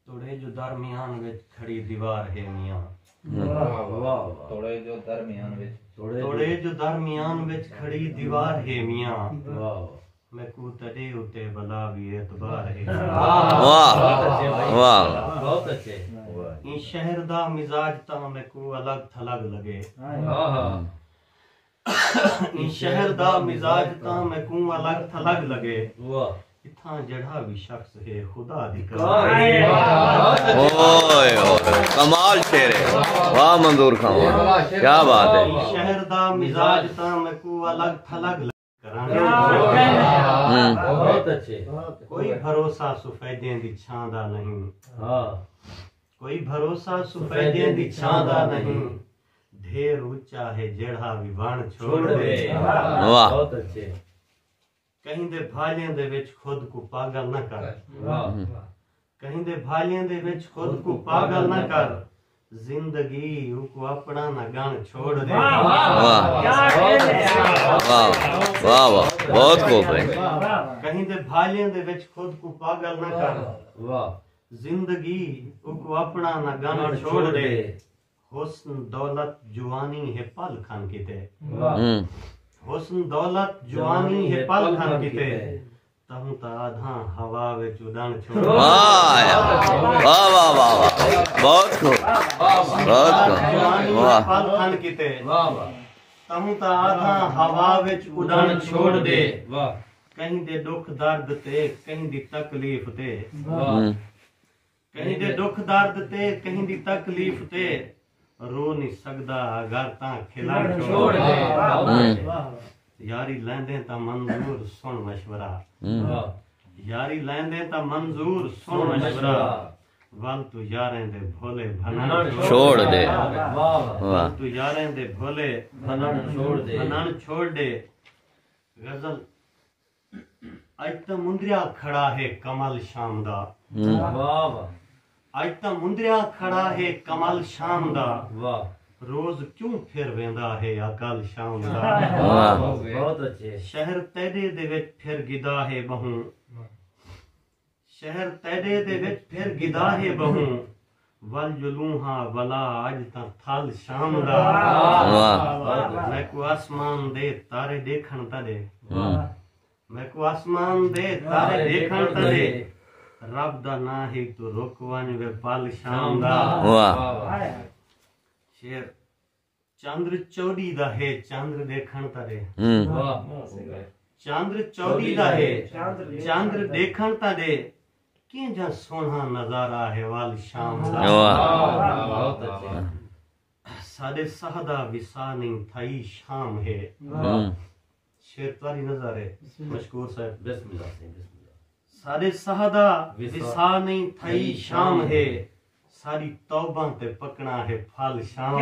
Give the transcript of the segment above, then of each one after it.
توڑے جو درمیان وچ کھڑی دیوار ہے میاں توڑے جو درمیان وچ توڑے جو درمیان وچ کھڑی دیوار ہے میاں میں کو تڑے اتے بلا بھی اعتبار ہے واہ واہ بہت اچھے ان شہر دا مزاج تاں میں کو الگ تھلگ لگے ہاں ہاں ایں شہر دا مزاج تاں میکوں الگ تھلگ لگے۔ اتھاں جیڑھا وی شخص ہے خدا دی قسم۔ کوئی بھروسہ سفیدیں دی چھاں دا نہیں۔ ڈھیر اچا ہے جیڑھا وی وݨ چھوڑ ڈے۔ کہیں دے بھالیں دے وچ خود کوں پاگل نہ کر۔ کہیں دے بھالیں دے وچ خود کوں پاگل نہ کر۔ زندگی اوکوں اپݨا نہ گݨ چھوڑ ڈے۔ کہیں دے بھالیں دے وچ خود کوں پاگل نہ کر۔ زندگی اوکوں اپݨا نہ گݨ چھوڑ ڈے۔ حسن دولت جوانی ہے پل کھن کیتے حسن دولت جوانی ہے پل کھن کیتے تہوں تا آدھاں ہوا وچ اڈن چھوڑ واہ واہ واہ واہ بہت کو بہت کو جوانی ہے پل کھن کیتے واہ واہ تہوں تا آدھاں ہوا وچ اڈن چھوڑ دے واہ کہیں دے دکھ درد تے کہیں دی تکلیف تے واہ کہیں دے ڈکھ درد تے کہیں دی تکلیف تے رو نہیں سکدا اگر تاں کھلا چھوڑ دے یاری لیندے تا منظور سن مشورہ یاری لیندے تا منظور سن مشورہ ول تو یاریں دے بھولے بھنن چھوڑ دے ول تو یاریں دے بھولے بھنن چھوڑ دے بھنن چھوڑ دے غزل اج تاں مندریا کھڑا ہے کمل شام دا اج تاں مندریا کھڑا ہے کمل شام دا روز کیوں پھر ویندا ہے اکل شام دا شہر تیڈے دے وچ پھر گدا ہے بہوں شہر تیݙے دے وچ پھر گداہے ٻہوں ول جلوں ہا ولا اڄ تاں تھل شام دا میکوں آسمان دے تارے ݙیکھݨ تݙے میکوں آسمان دے تارے ݙیکھݨ تݙے رب دا نا ہی تو رک ونج وے پل شام دا شیر چندر چوݙی دا ہے چندر ݙیکھݨ تاں ݙے چندر چوݙی دا ہے چندر ݙیکھݨ تاں ݙے کینجھا سوہݨا نظارہ ہے ول شام دا ساݙے ساہ دا وسا نئیں تھائی شام ہے شعر تہاݙی نظر ہے مشکور صاحب بسم اللہ سائیں بسم اللہ ساݙے ساہ دا وصال نہیں تھئی شام ہے ساری توبہ تے پکنا ہے پھل شام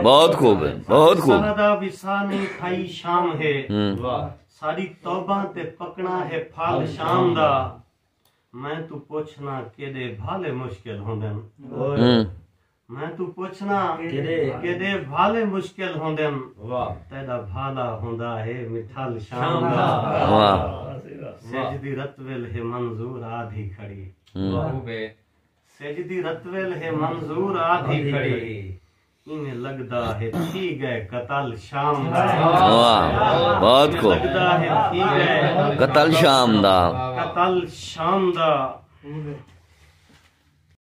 بہت خوب ہے بہت خوب سہدا وصال نہیں تھئی شام ہے ساری توبہ تے پکنا ہے پھل شام دا میں تو پوچھنا کیڑے بھالے مشکل ہوندن میں توں پچھناں کیݙے بھالے مشکل ہوندن تیݙا بھالا ہوندا ہے مٹھل شام دا سجدی رتول ہے منظور آدھی کھڑی سجدی رتول ہے منظور آدھی کھڑی ایویں لگدا ہے تھی گئے قتل شام دا بہت کو لگدا ہے تھی گئے قتل شام دا قتل شام دا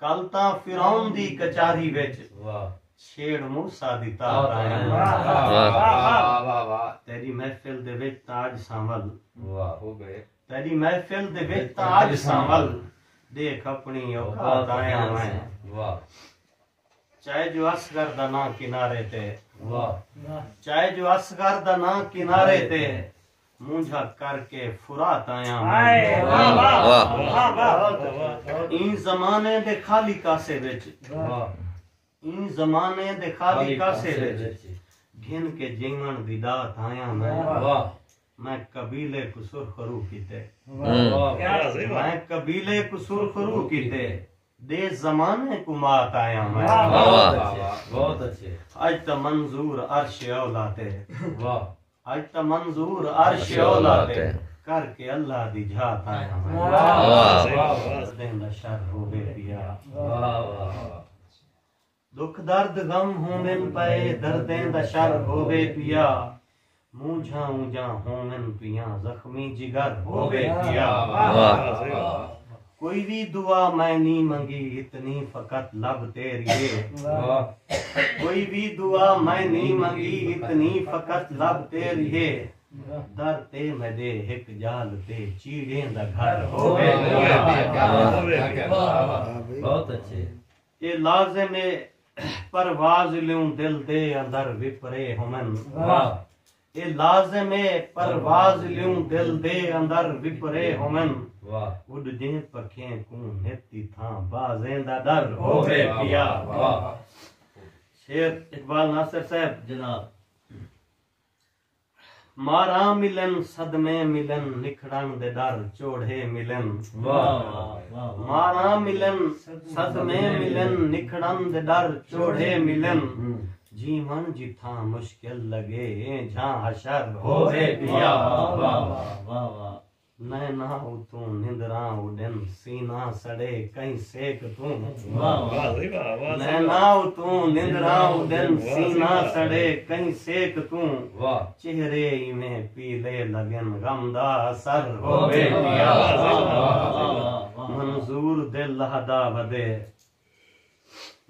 کل تاں فرعون دی کچاری وچ چھیڑ موسی دی تار آئیں تیری محفل دے وچ تاج سامل تیری محفل دے وچ تاج سامل دیکھ اپنی اوقات آئیں چائے جو اصغر دا ناں کنارے تے چائے جو اصغر دا ناں کنارے تے مونجھا کر کے فرات آیا این زمانے دے خالی کاسے وچ این زمانے دے خالی کاسے وچ گھن کے جیون دی دات آیا میں میں قبیلے کو سرخرو کیتے میں قبیلے کو سرخرو کیتے دے زمانے کوں مات آیاں میں۔ واہ واہ واہ بہت اچھے۔ اج تاں منظور عرش اولا تے۔ واہ۔ اج تاں منظور عرش اولا تے۔ کر کے اللہ دی جھات آیاں میں۔ واہ واہ واہ۔ سدیں دا شر ہووے پیا۔ واہ واہ واہ۔ ݙکھ درد غم ہوون پئے دردیں دا شر ہووے پیا مونجھاں اونجھاں ہوون پیاں زخمی جگر ہووے پیا کوئی وی دعا میں نی منگی اتنی فقط لب تیریے کوئی وی دعا میں نی منگی اتنی فقط لب تیریے در تے میڈے ہک جال تے چیڑیں دا گھر ہووے پیا بہت اچھے اے لازم اے پرواز لیوں دل دے اندر وپرے ہوون واہ اے لازم اے پرواز لیوں دل دے اندر وپرے ہوون واہ اڈ دے پکھیں کوں نتی تھاں بازیں دا ڈر ہووے پیا واہ شیر اقبال ناصر صاحب جناب ماراں ملن صدمے ملن نکھڑن دے ڈر چوڑھے ملن ماراں ملن صدمے ملن نکھڑن دے ڈر چوڑھے ملن جیون جتھاں مشکل لگے جھاں حشر ہووے پیا نیناں اتوں نندراں اڈن سینہ سڑے کہیں سیک توں نیناں اتوں نندراں اڈن سینہ سڑے کہیں سیک توں چہرے ایویں پیلے لگن غم دا اثر ہووے پیا منظور دل لہدا ودے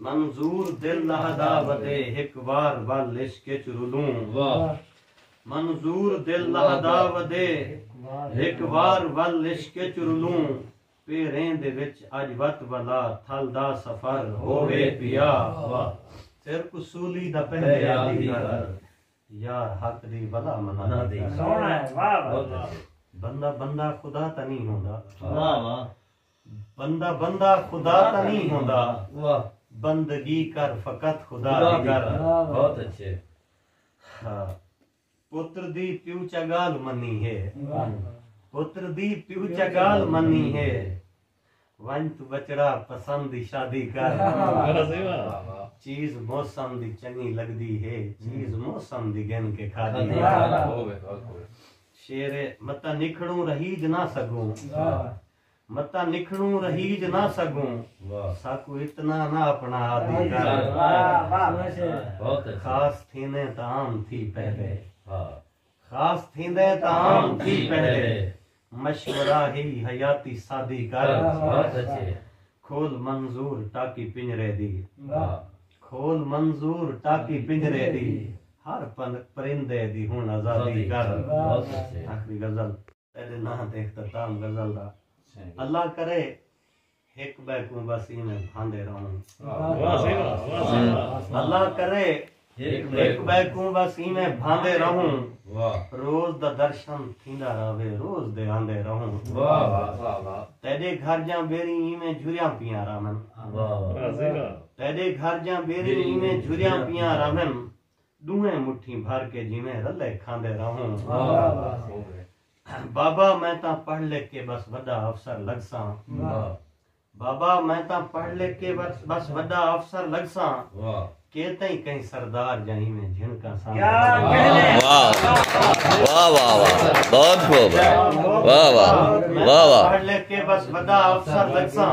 منظور دل لہدا ودے ہک وار ول عشق اچ رلوں منظور دل لہدا ودے ہک وار ول عشق اچ رلوں پیریں دے وچ اج وت ولا تھل دا سفر ہووے پیا سر کو سولی دا پہلے آدھی کر یار حق دی بلا منا دی بندہ بندہ خدا تا نہیں ہوندا بندہ بندہ خدا تاں نی ہوندا بندگی کر فقط خدا دی کر بہت اچھے پتر دی پیو چا گال منی ہے پتر دی پیو چا گال منی ہے ونج تو بچڑا پسند دی شادی کر چیز موسم دی چنگی لگدی ہے چیز موسم دی گن کے کھا دی ہے شیر متا نکھڑوں رہی جنا سگوں متاں نکھنوں رہیج نہ سگوں ساکوں اتنا نہ اپنا عادی کر خاص تھیندیں تاں عام تھی پہلے خاص تھیندیں تاں عام تھی پہلے مشورہ ہی حیاتی سادی کر کھول منظور ٹاکی پنجرے دی کھول منظور ٹاکی پنجرے دی ہر پرندے دی ہن آزادی کر آخری غزل تیڈے ناں تے اختتام غزل دا اللہ کرے ہک بے کو بس میں بھاندے رہوں اللہ کرے ہک بے کو بس میں بھاندے رہوں روز دا درشن تھیندا رہے روز دے آندے رہوں واہ واہ واہ واہ تیرے گھر جاں بیری میں جھریاں پیاں رہن واہ واہ تیرے گھر جاں بیری میں جھریاں پیاں رہن ݙوہیں مٹھی بھر کے جیویں رلے کھاندے رہوں۔ بابا میں تاں پڑھ لکھ کے بس وݙا افسر لڳساں۔ بابا میں تاں پڑھ لکھ کے بس وݙا افسر لڳساں۔ کے تئیں کہیں سردار جاں ایویں جھنکاں ساندے رہوں۔ واہ واہ واہ بہت خوب واہ واہ واہ واہ۔ میں تاں پڑھ لکھ کے بس وݙا افسر لڳساں۔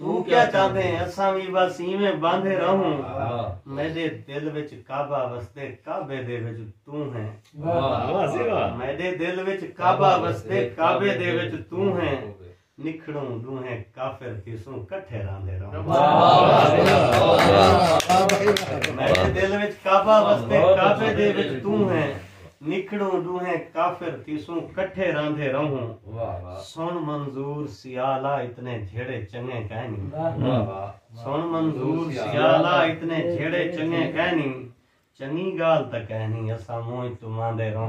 توں کیا چاہندیں اساں وی بس ایویں باندھے رہوں میڈے دل وچ کعبہ وسدے کعبے دے وچ توں ہیں میڈے دل وچ کعبہ وسدے کعبے دے وچ توں ہیں نکھڑوں ڈوہیں کافر تھیسوں کٹھے راندے رہوں میڈے دل وچ کعبہ وسدے کعبے دے وچ توں ہیں نکھڑوں ݙوہیں کافر تھیسوں کٹھے راندھے رہوں سݨ منظور سیالا اتنے جھیڑے چنگے کائنی سݨ منظور سیالا اتنے جھیڑے چنگے کائنی چنگی گال تکائنی اساں موج تماندے رہوں